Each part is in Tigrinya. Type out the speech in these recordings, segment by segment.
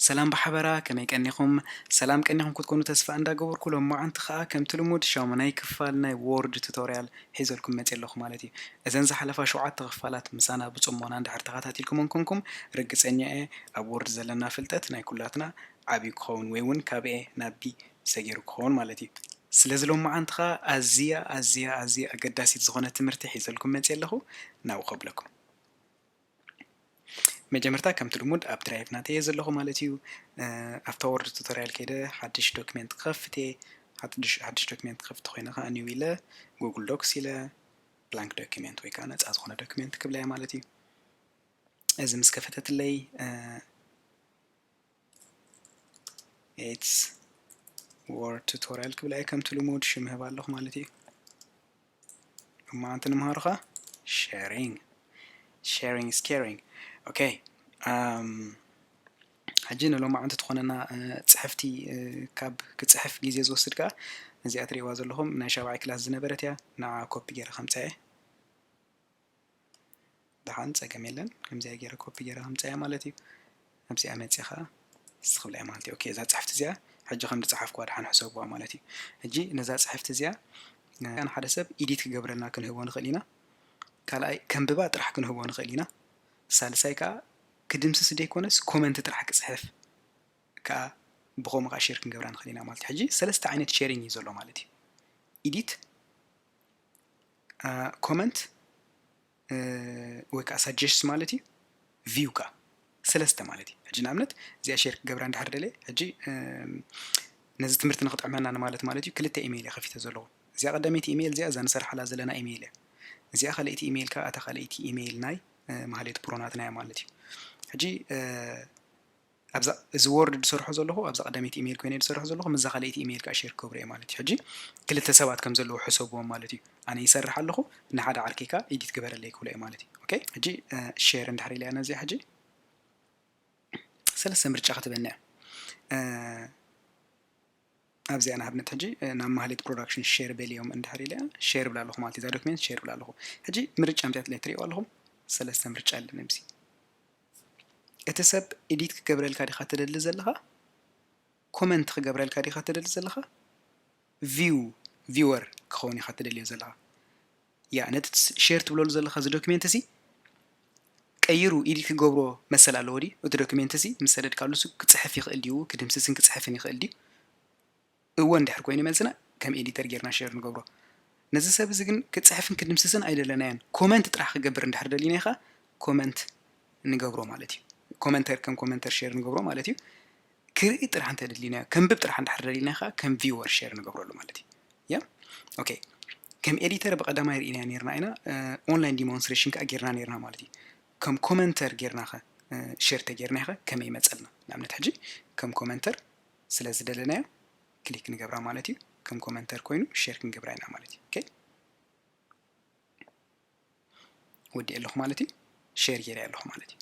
ሰላም ብሓበራ ከመይ ቀኒኹም ሰላም ቀኒኹም ክትኮኑ ተስፋ እንዳ ገበርኩ ሎማዓንቲ ከኣ ከምቲ ልሙድ ሻሙናይ ክፋል ናይ ዎርድ ቱቶርያል ሒዘልኩም መጽየ ኣለኹ ማለት እዩ እዘን ዝሓለፋ ሸውዓተ ክፋላት ምሳና ብጽሞና እንድሕር ተኻታቲልኩመን ኮንኩም ርግጸኛ እየ ኣብ ዎርድ ዘለና ፍልጠት ናይ ኩላትና ዓብዩ ክኸውን ወይ ውን ካብ A ናብ B ሰጊሩ ክኸውን ማለት እዩ። ስለዚ ሎምዓንቲ ከኣ ኣዝያ ኣዝያ ኣዝያ ኣገዳሲት ዝኾነት ትምህርቲ ሒዘልኩም መጽየ ኣለኹ ናብኡ ከብለኩም። መጀመርታ ከምቲ ልሙድ ኣብ ድራይቭ ናተይ እየ ዘለኹ ማለት እዩ። ኣብታ ወርድ ቱቶርያል ከይደ ሓድሽ ዶክሜንት ክኸፍት እየ። ሓድሽ ዶክሜንት ክኸፍት ኮይነ ከኣ ኒው ኢለ ጉግል ዶክስ ኢለ ብላንክ ዶክሜንት ወይ ከዓ ነፃ ዝኾነ ዶክሜንት ክብለያ ማለት እዩ። እዚ ምስ ከፈተትለይ ኤትስ ወርድ ቱቶሪያል ክብል ኣይ ከምቲ ልሙድ ሽም ህብ ኣለኹ ማለት እዩ እማ ኣንቲ ንምሃሩ ኸ ሸሪንግ ሸሪንግ ስኬሪንግ ኦኬ ሕጂ ንሎም ዓንቲ ትኾነና ፅሕፍቲ ካብ ክፅሕፍ ግዜ ዝወስድ ከዓ ነዚኣ ትሪእዋ ዘለኹም ናይ ሻብዓይ ክላስ ዝነበረት እያ ንዓ ኮፒ ገይረ ከምፀአ ደሓን ፀገም የለን ከምዚኣ ገይረ ኮፒ ገይረ ከምፀያ ማለት እዩ ኣብዚኣ መፂኻ ዝኽብለያ ማለት እዩ ኦኬ እዛ ፅሕፍቲ እዚኣ ሕጂ ከም ዝፀሓፍኩዋ ደሓን ሕሰብዋ ማለት እዩ ሕጂ ነዛ ፅሕፍቲ እዚኣ ንሓደ ሰብ ኢዲት ክገብረልና ክንህቦ ንኽእል ኢና ካልኣይ ከምብባ ጥራሕ ክንህቦ ንኽእል ኢና ሳልሳይ ከዓ ክድምስስ ዘይኮነስ ኮመንት ጥራሕ ክፅሕፍ ከዓ ብኸምኡ ከዓ ሼር ክንገብራ ንኽእል ኢና ማለት እዩ ሕጂ ሰለስተ ዓይነት ሼሪንግ እዩ ዘሎ ማለት እዩ ኢዲት ኮመንት ወይ ከዓ ሳጀስት ማለት እዩ ቪው ከዓ ሰለስተ ማለት እዩ ሕጂ ንኣብነት እዚኣ ሼር ክገብራ እንዳሓር ደለ ሕጂ ነዚ ትምህርቲ ንክጥዕመና ንማለት ማለት እዩ ክልተ ኢሜይል እየ ከፊተ ዘለዎ እዚኣ ቀዳመይቲ ኢሜይል እዚኣ እዛ ንሰርሓላ ዘለና ኢሜይል እያ እዚኣ ካልኣይቲ ኢሜይል ከዓ እታ ካልኣይቲ ኢሜይል ናይ ማህሌት ፕሮናትና እያ ማለት እዩ ሕጂ ኣብዛ እዚ ዎርድ ድሰርሖ ዘለኹ ኣብዛ ቀዳመይቲ ኢመይል ኮይነ ድሰርሖ ዘለኹ ምስዛ ካልኣይቲ ኢመይል ከኣ ሼር ክገብሮ እየ ማለት እዩ ሕጂ ክልተ ሰባት ከም ዘለዉ ሕሰብዎም ማለት እዩ ኣነ ይሰርሕ ኣለኹ ንሓደ ዓርከይ ከኣ ኢዲት ግበረለይ ክብሎ እየ ማለት እዩ ኦኬ ሕጂ ሼር እንድሕር ኢለያ ነዚኣ ሕጂ ሰለስተ ምርጫ ክትበኒ እያ ኣብዚኣ ንኣብነት ሕጂ ናብ ማህሌት ፕሮዳክሽን ሼር በልዮም እንድሕር ኢለያ ሼር ብላ ኣለኹ ማለት እዩ እዛ ዶክሜንት ሼር ብላ ኣለኹ ሕጂ ምርጫ ምፅያትለይ ትሪእዎ ኣለኹም ሰለስተ ምርጫ ኣለኒ ኣብዚ እቲ ሰብ ኢዲት ክገብረልካ ዲኻ ትደሊ ዘለኻ ኮመንት ክገብረልካ ዲኻ ትደሊ ዘለኻ ቪው ቪወር ክኸውን ኢኻ ትደልዮ ዘለኻ ያዕ ነትት ሼር ትብለሉ ዘለኻ እዚ ዶክሜንት እዚ ቀይሩ ኢዲት ክገብሮ መሰል ኣለዎ ድዩ? እቲ ዶክሜንት እዚ ምስ ሰደድካሉስ ክጽሕፍ ይኽእል ድዩ ክድምስስን ክጽሕፍን ይኽእል ድዩ? እወ እንድሕር ኮይኑ መልስና ከም ኤዲተር ጌርና ሼር ንገብሮ። ነዚ ሰብ እዚ ግን ክጽሕፍን ክድምስስን ኣይደለናዮን ኮመንት ጥራሕ ክገብር እንድሕር ደሊናዮ ከኣ ኮመንት ንገብሮ ማለት እዩ። ኮመንተር ከም ኮመንተር ሼር ንገብሮ ማለት እዩ። ክርኢ ጥራሕ እንተ ደሊናዮ ከንብብ ጥራሕ እንድሕር ደሊና ከኣ ከም ቪወር ሸር ንገብረሉ ማለት እዩ ያ ኦኬ ከም ኤዲተር ብቐዳማይ ርኢናዮ ነርና ኢና ኦንላይን ዲሞንስትሬሽን ከኣ ጌርና ነርና ማለት እዩ ከም ኮመንተር ጌርና ኸ ሸር ተጌርና ኸ ከመይ ይመጸልና ንኣብነት ሕጂ ከም ኮመንተር ስለ ዝደለናዮ ክሊክ ንገብራ ማለት እዩ ከም ኮመንተር ኮይኑ ሸር ክንገብራ ኢና ማለት እዩ ኦኬ ወዲኤ ኣለኹ ማለት እዩ ሸር ጌረ ኣለኹ ማለት እዩ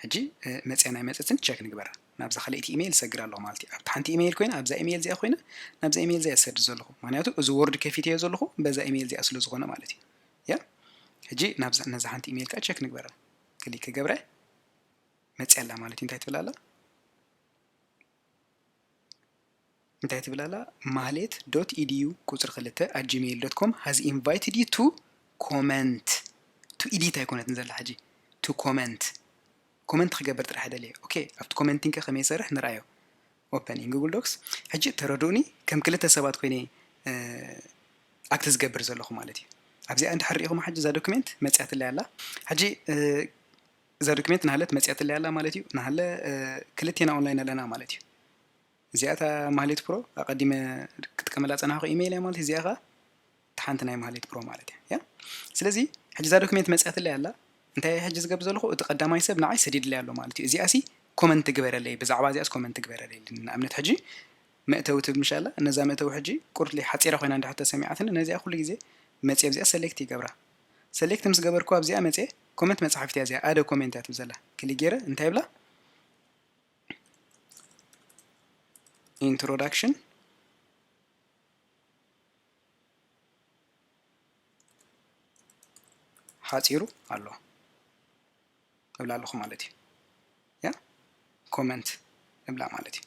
ሕጂ መፅያን ኣይመፀትን ቸክ ንግበራ ናብዛ ካልኣይቲ ኢሜይል ሰግር ኣለኹ ማለት እዩ ኣብቲ ሓንቲ ኢሜይል ኮይነ ኣብዛ ኢሜይል እዚኣ ኮይነ ናብዛ ኢሜይል እዚኣ ዝሰድ ዘለኹ ምክንያቱ እዚ ወርድ ከፊተዮ ዘለኹ በዛ ኢሜይል እዚኣ ስለ ዝኾነ ማለት እዩ ያ ሕጂ ናብዛ ነዛ ሓንቲ ኢሜይል ከዓ ቸክ ንግበራ ክሊክ ክገብረ መፅያ ኣላ ማለት እዩ እንታይ ትብል ኣላ እንታይ ትብል ኣላ ማህሌት ዶት ኢድዩ ቁፅሪ ክልተ ኣት ጂሜይል ዶት ኮም ሃዝ ኢንቫይትድ ዩ ቱ ኮመንት ቱ ኢዲት ኣይኮነትን ዘላ ሕጂ ቱ ኮመንት ኮመንት ክገብር ጥራሕ ደልየ ኦኬ ኣብቲ ኮመንቲንከ ከመይ ይሰርሕ ንርኣዮ ኦፐን ኢን ጉግል ዶክስ ሕጂ ተረድኡኒ ከም ክልተ ሰባት ኮይነ ኣክት ዝገብር ዘለኹ ማለት እዩ ኣብዚኣ እንድሕር ሪኢኹም ሓጂ እዛ ዶክሜንት መፅያትለይ ኣላ ሕጂ እዛ ዶክሜንት ናህለት መጺኣትለይ ኣላ ማለት እዩ ናህለ ክልቴና ኦንላይን ኣለና ማለት እዩ እዚኣ እታ ማህሌት ፕሮ ኣቀዲመ ክጥቀመላ ጸናሕኩ ኢሜይል እያ ማለት እዚኣ ከኣ እታ ሓንቲ ናይ ማህሌት ፕሮ ማለት እያ ያ ስለዚ ሕጂ እዛ ዶክሜንት መጺኣትለይ ኣላ እንታይ እየ ሕጂ ዝገብር ዘለኹ እቲ ቀዳማይ ሰብ ንዓይ ሰዲድለይ ኣሎ ማለት እዩ እዚኣ ሲ ኮመንት ግበረለይ ብዛዕባ እዚኣስ ኮመንት ግበረለይ ንኣብነት ሕጂ መእተዊ ትብል ምሽ ኣላ ነዛ መእተዊ ሕጂ ቁርሊ ሓጺራ ኮይና እንድሕር ተሰሚዓትኒ ነዚኣ ኩሉ ግዜ መጺ ኣብዚኣ ሰሌክት ይገብራ ሰሌክት ምስ ገበርኩ ኣብዚኣ መጽየ ኮመንት መጻሕፍት እያ እዚኣ ኣደ ኮሜንት እያ ትብል ዘላ ክሊክ ገይረ እንታይ ይብላ ኢንትሮዳክሽን ሓፂሩ ኣሎ እብላ ኣለኹ ማለት እዩ ያ ኮመንት እብላ ማለት እዩ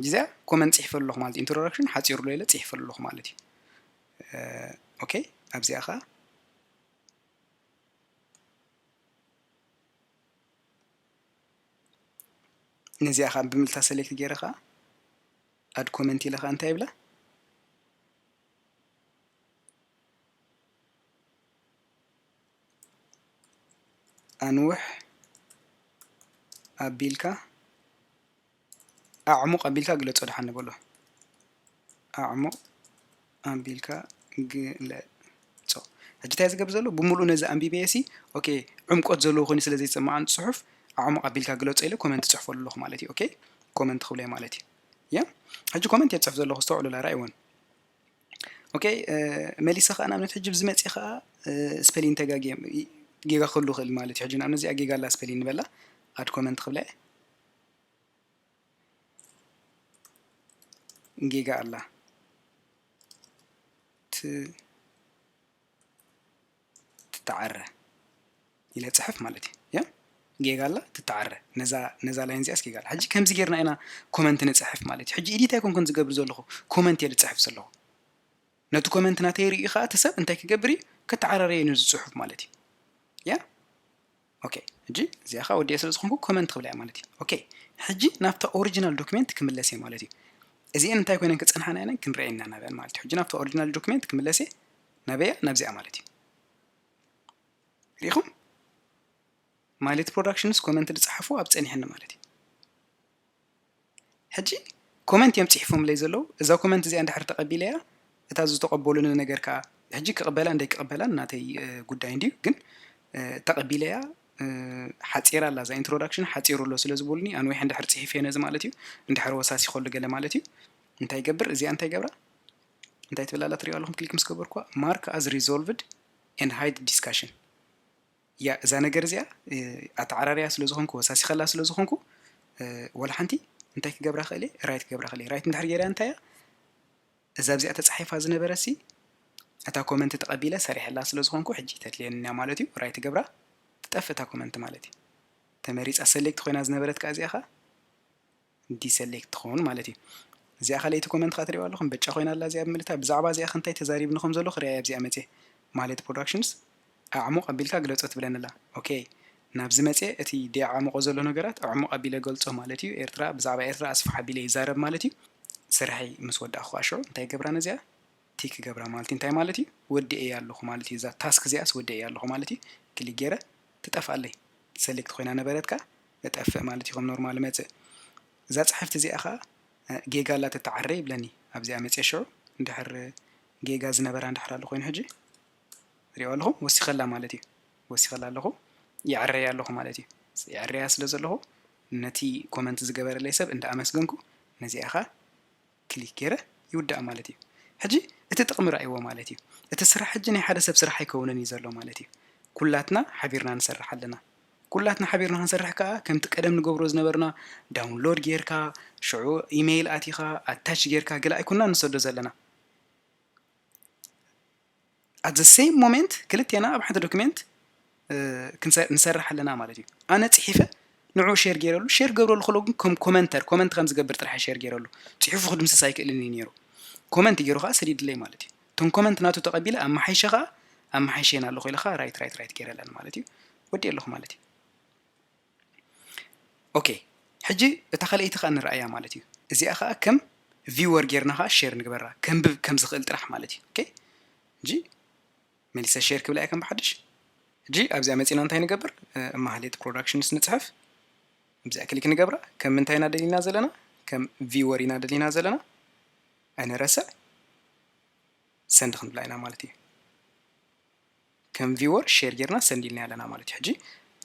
ጊዘ ኮመንት ጽሒፈሉ ኣለኹ ማለት ኢንትሮዳክሽን ሓጺሩ ዶ ኢለ ጽሒፈሉ ኣለኹ ማለት እዩ ኦኬ ኣብዚኣ ከኣ ነዚኣ ከዓ ብምልታ ሰሌክት ገይረ ከዓ ኣድ ኮመንት ኢለ ከዓ እንታይ ይብላ ኣንውሕ ኣቢልካ ኣዕሙቕ ኣቢልካ ግለጾ ድሓን ንበሎ ኣዕሙቕ ኣቢልካ ግለጾ ሕጂ እንታይ ዝገብር ዘሎ ብምሉእ ነዚ ኣንቢበየ ሲ ኦኬ ዕምቆት ዘለዎ ኮይኑ ስለ ዘይጽማኣን ጽሑፍ ኣዕሙቕ ኣቢልካ ግለጾ ኢለ ኮመንት ጽሕፈሉ ኣለኹ ማለት እዩ ኦኬ ኮመንት ክብለይ ማለት እዩ እያ ሕጂ ኮመንት የጽሕፍ ዘለኹ ዝተውዕሉ ላራ ይወን ኦከ መሊሰ ከኣ ንኣብነት ሕጂ ብዚ መጺ ከኣ ስፐሊን ተጋጊየ ጌጋ ክህሉ ይኽእል ማለት እዩ ሕጂ ንኣብነት እዚኣ ጌጋ ኣላ ስፐሊን ንበላ ኣድ ኮመንት ክብላ እየ ጌጋ ኣላ ትተዓረ ኢለ ጽሕፍ ማለት እዩ ያ ጌጋ ኣላ ትተዓረ ነዛ ነዛ ላይን እዚኣስ ጌጋ ኣላ ሕጂ ከምዚ ጌርና ኢና ኮመንት ንጽሕፍ ማለት እዩ ሕጂ ኢዲት ኣይኮንኩን ዝገብር ዘለኹ ኮመንት እየ ዝጽሕፍ ዘለኹ ነቲ ኮመንት ናተይ ርእዩ ከዓ እቲ ሰብ እንታይ ክገብር እዩ ከተዓራረየ ን ዝጽሑፍ ማለት እዩ ያ ኦኬ ሕጂ እዚኣ ከዓ ወዲኤ ስለ ዝኾንኩ ኮመንት ክብላ እየ ማለት እዩ ኦኬ ሕጂ ናብታ ኦሪጂናል ዶክሜንት ክምለስ እየ ማለት እዩ እዚአን እንታይ ኮይነን ክፀንሓና ኢለን ክንሪአን ኢና ናብያን ማለት እዩ ሕጂ ናብታ ኦሪጂናል ዶክሜንት ክምለስ እየ ናበያ ናብዚኣ ማለት እዩ ሪኢኹም ማሌት ፕሮዳክሽንስ ኮመንት ዝፀሓፉ ኣብ ፀኒሐኒ ማለት እዩ ሕጂ comment እዮም ጺሒፎምለይ ዘለዉ እዛ comment እዚኣ እንድሕር ተቀቢለያ እታ ዝተቀበሉኒ ነገር ከኣ ሕጂ ክቅበላ እንደይ ክቅበላ ናተይ ጉዳይ እንድዩ ግን ተቀቢለያ ሓጺራ ኣላ እዛ introduction ሓጺሩ ኣሎ ስለ ዝብሉኒ ኣንዊሐ እንድሕር ጺሒፈዮ ነዚ ማለት እዩ እንድሕር ወሳሲኮ ኣሎ ገለ ማለት እዩ እንታይ ይገብር እዚኣ እንታይ ይገብራ እንታይ ትብል ኣላ ትሪእዋ ኣለኹም ክሊክ ምስ ገበርኩዋ mark as resolved and hide discussion እያ እዛ ነገር እዚኣ ኣተዓራርያ ስለ ዝኾንኩ ወሳሲኸላ ስለ ዝኾንኩ ወላ ሓንቲ እንታይ ክገብራ ክእል እየ ራይት ክገብራ ክእል እየ ራይት እንድሕር ገይራ እንታይ እያ እዛ ኣብዚኣ ተፃሒፋ ዝነበረት ሲ እታ ኮመንት ተቐቢለ ሰሪሐላ ስለ ዝኾንኩ ሕጂ ተድልየንያ ማለት እዩ ራይት ገብራ ትጠፍእ እታ ኮመንት ማለት እዩ ተመሪፃ ሰሌክት ኮይና ዝነበረት ከዓ እዚኣ ከዓ ዲሰሌክት ትኸውን ማለት እዩ። እዚኣ ካልኣይቲ ኮመንት ከኣ ትሪእዋ ኣለኹም በጫ ኮይና ኣላ እዚኣ ብምልታ ብዛዕባ እዚኣ ከ እንታይ ተዛሪብኒ ከም ዘለኹ ርኣይ ኣብዚኣ መጽየ ማሌት ፕሮዳክሽንስ ኣዕሙቕ ኣቢልካ ግለጾ ትብለኒ ኣላ ኦኬ ናብዚ መጽየ እቲ ደይዓሙቖ ዘሎ ነገራት ኣዕሙቕ ኣቢለ እገልጾ ማለት እዩ ኤርትራ ብዛዕባ ኤርትራ ኣስፍሕ ኣቢለ ይዛረብ ማለት እዩ ስርሐይ ምስ ወዳእኩ ከኣ ሽዑ እንታይ ይገብራ ነዚኣ እቲ ክገብራ ማለት እዩ እንታይ ማለት እዩ ወዲኤያ ኣለኹ ማለት እዩ እዛ ታስክ እዚኣስ ወዲኤያ ኣለኹ ማለት እዩ ክሊክ ጌረ ትጠፍኣለይ ሰሌክት ኮይና ነበረት ከኣ እጠፍእ ማለት እዩ ከም ኖርማል እመጽእ እዛ ጽሕፍቲ እዚኣ ከኣ ጌጋ ኣላ ተተዓረ ይብለኒ ኣብዚኣ መጽየ ሽዑ እንድሕር ጌጋ ዝነበራ እንድሕር ኣሎ ኮይኑ ሕጂ ሪኦ ኣለኹ ወሲኸላ ማለት እዩ ወሲኸላ ኣለኹ ይዕረያ ኣለኹ ማለት እዩ ይዕረያ ስለ ዘለኹ ነቲ ኮመንት ዝገበረለይ ሰብ እንዳ ኣመስገንኩ ነዚኣ ኸ ክሊክ ጌረ ይውዳእ ማለት እዩ ሕጂ እቲ ጥቅሚ ረኣይዎ ማለት እዩ እቲ ስራሕ ሕጂ ናይ ሓደ ሰብ ስራሕ ኣይከውንን እዩ ዘሎ ማለት እዩ ኩላትና ሓቢርና ንሰርሕ ኣለና ኩላትና ሓቢርና ክንሰርሕ ከኣ ከምቲ ቀደም ንገብሮ ዝነበርና ዳውንሎድ ጌርካ ሽዑ ኢመይል ኣቲካ ኣታች ጌርካ ገለ ኣይኮናን ንሰዶ ዘለና ኣት ዘ ሰይም ሞመንት ክልቴና ኣብ ሓንቲ ዶክሜንት ንሰርሕ ኣለና ማለት እዩ ኣነ ፅሒፈ ንዑ ሸር ገይረሉ ሸር ገብረሉ ከሎ ግን ከም ኮመንተር ኮመንት ከም ዝገብር ጥራሕ ሸር ገይረሉ ፅሑፉ ክድምስስ ኣይክእልን እዩ ነይሩ ኮመንት ገይሩ ከዓ ሰዲድለይ ማለት እዩ እቶም ኮመንት ናቱ ተቐቢለ ኣብ መሓይሸ ከዓ ኣብ መሓይሸና ኣለኹ ኢለ ከዓ ራይት ራይት ራይት ገይረ ኣለኒ ማለት እዩ ወዲእ ኣለኹ ማለት እዩ ኦኬ ሕጂ እታ ካልኣይቲ ከኣ ንርኣያ ማለት እዩ እዚኣ ከኣ ከም ቪወር ጌርና ከኣ ሼር ንግበራ ከንብብ ከም ዝኽእል ጥራሕ ማለት እዩ ኦኬ ሕጂ መሊሰ ሼር ክብላ እየ ከም ብሓድሽ ሕጂ ኣብዚኣ መጺና እንታይ ንገብር ማህሌት ፕሮዳክሽንስ ንጽሕፍ እብዚኣ ክሊክ ንገብራ ከም ምንታይ ኢና ደሊና ዘለና ከም ቪወር ኢና ደሊና ዘለና ኣይነረስዕ ሰንድ ክንብላ ኢና ማለት እዩ ከም ቪወር ሼር ጌርና ሰንድ ኢልናያ ኣለና ማለት እዩ ሕጂ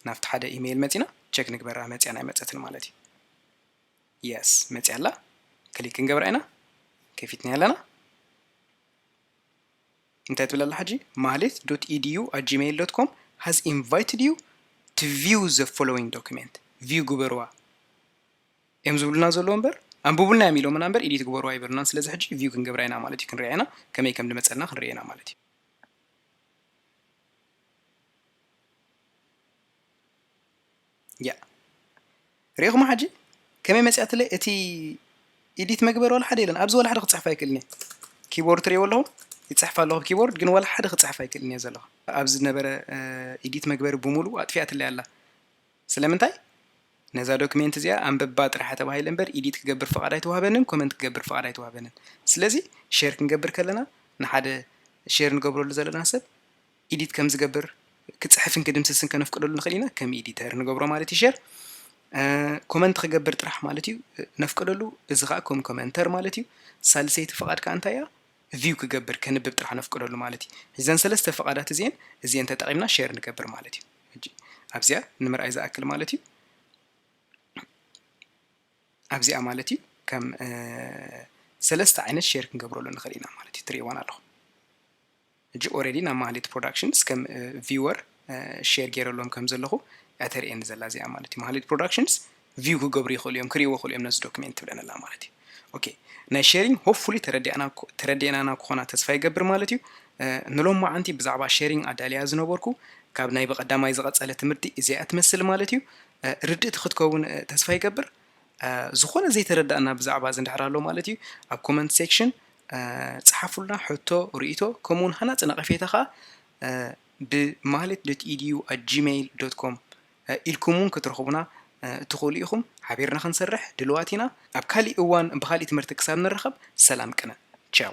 ናብቲ ሓደ ኢመይል መጺና ቸክ ንግበራ መጽያን ኣይመጸትን ማለት እዩ የስ መጽያ ኣላ ክሊክ ክንገብራ ኢና ከፊትናያ ኣለና እንታይ ትብል ኣላ ሕጂ ማህሌት ዶት ኢዲዩ ኣት ጂሜይል ዶት ኮም ሃዝ ኢንቫይትድ ዩ ቱ ቪው ዘ ፎሎዊንግ ዶክሜንት ቪው ግበርዋ እዮም ዝብሉና ዘለዎ እምበር ኣንብቡልና እዮም ኢሎምና እምበር ኢዲት ግበሩ ኣይበሉናን ስለዚ ሕጂ ቪው ክንገብራ ኢና ማለት እዩ ክንሪኣ ኢና ከመይ ከም ድመፀልና ክንሪአ ኢና ማለት እዩ ያእ ሪኢኹማ ሕጂ ከመይ መጺኣትለይ እቲ ኢዲት መግበሪ ዋላ ሓደ የለን ኣብዚ ዋላ ሓደ ክጽሕፍ ኣይክእልን እየ ኪቦርድ ትርእይዎ ኣለኹም ይጽሕፍ ኣለኹ ኪቦርድ ግን ዋላ ሓደ ክጽሕፍ ኣይክእልን እየ ዘለኹ ኣብዚ ዝነበረ ኢዲት መግበሪ ብምሉእ ኣጥፊኣትለይ ኣላ ስለምንታይ? ነዛ ዶክሜንት እዚኣ ኣንብባ ጥራሓ ተባሂለ እምበር ኢዲት ክገብር ፍቓድ ኣይተዋህበንን ኮመንት ክገብር ፍቓድ ኣይተዋህበንን ስለዚ ሼር ክንገብር ከለና ንሓደ ሼር ንገብረሉ ዘለና ሰብ ኢዲት ከም ዝገብር ክጽሕፍን ክድምስስን ከነፍቅደሉ ንኽእል ኢና ከም ኢዲተር ንገብሮ ማለት እዩ ሼር ኮመንት ክገብር ጥራሕ ማለት እዩ ነፍቅደሉ እዚ ከዓ ከም ኮመንተር ማለት እዩ ሳልሰይቲ ፍቓድ ከዓ እንታይ እያ ቪው ክገብር ከንብብ ጥራሕ ነፍቅደሉ ማለት እዩ እዘን ሰለስተ ፍቓዳት እዚአን እዚአን ተጠቒምና ሼር ንገብር ማለት እዩ ሕጂ ኣብዚኣ ንምርኣይ ዝኣክል ማለት እዩ ኣብዚኣ ማለት እዩ ከም ሰለስተ ዓይነት ሼር ክንገብረሉ ንኽእል ኢና ማለት እዩ ትርእይዋን ኣለኹም ሕጂ ኦረዲ ናብ ማህሌት ፕሮዳክሽንስ ከም ቪወር ሼር ገይረሎም ከም ዘለኹ እተርእየኒ ዘላ እዚኣ ማለት እዩ ማህሌት ፕሮዳክሽንስ ቪው ክገብሩ ይክእሉ እዮም ክሪእዎ ይክእሉ እዮም ነዚ ዶክሜንት ትብለንላ ማለት እዩ ኦኬ ናይ ሼሪንግ ሆፕፉሊ ተረዲእናና ክኾና ተስፋ ይገብር ማለት እዩ ንሎም መዓንቲ ብዛዕባ ሼሪንግ ኣዳልያ ዝነበርኩ ካብ ናይ ብቐዳማይ ዝቐጸለ ትምህርቲ እዚኣ ትመስል ማለት እዩ ርድእቲ ክትከውን ተስፋ ይገብር ዝኾነ ዘይተረዳእና ብዛዕባ እዚ እንድሕር ኣሎ ማለት እዩ ኣብ ኮመንት ሴክሽን ፀሓፉልና ሕቶ ርእቶ ከምኡውን ሃናፂ ነቐፌታ ከዓ ብማህሌት ዶት ኢድዩ ኣት ጂሜይል ዶት ኮም ኢልኩም'ውን ክትረኽቡና እትኽእሉ ኢኹም። ሓቢርና ክንሰርሕ ድሉዋት ኢና። ኣብ ካሊእ እዋን ብኻሊእ ትምህርቲ ክሳብ ንራኸብ ሰላም ቅነ። ቻው።